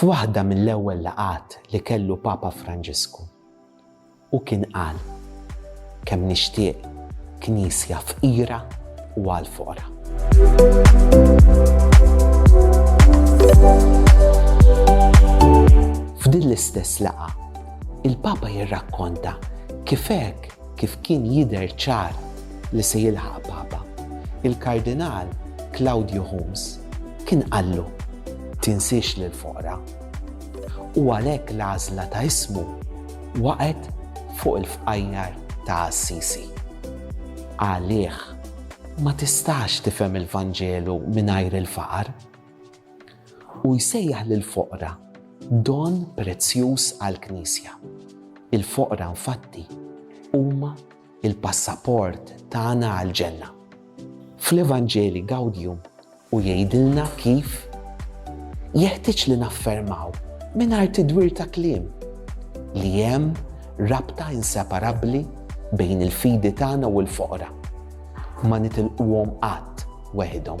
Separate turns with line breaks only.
F'waħda mill-ewwel laqgħat li kellu Papa Franġisku, hu kien qal, Kemm nixtieq Knisja fqira u għall-foqra. F'din l-istess laqgħa, il-Papa jirrakkonta kif hekk kif kien jidher ċar li se jilħaq Papa, il-Kardinal Claudio Hummes kien qallu, Tinsiex lill-foqra. U għalhekk l-għażla ta' ismu Waqgħet fuq il-fqajjar ta' Assisi. Għalih ma tistax tifhem il-Vanġelu mingħajr il-faqar. Hu jsejjaħ lill-foqra don prezzjuż għall-Knisja. Il-foqra infatti huma l-passaport tagħna għall-ġenna. Fl-Evanġeli Gaudium u jgħidilna kif jeħtieġ li naffermaw mingħajr tidwir ta' kliem li hemm rabta inseparabbli bejn il-fidi tagħna u l-foqra. Ma nitilquhom qatt weħidhom.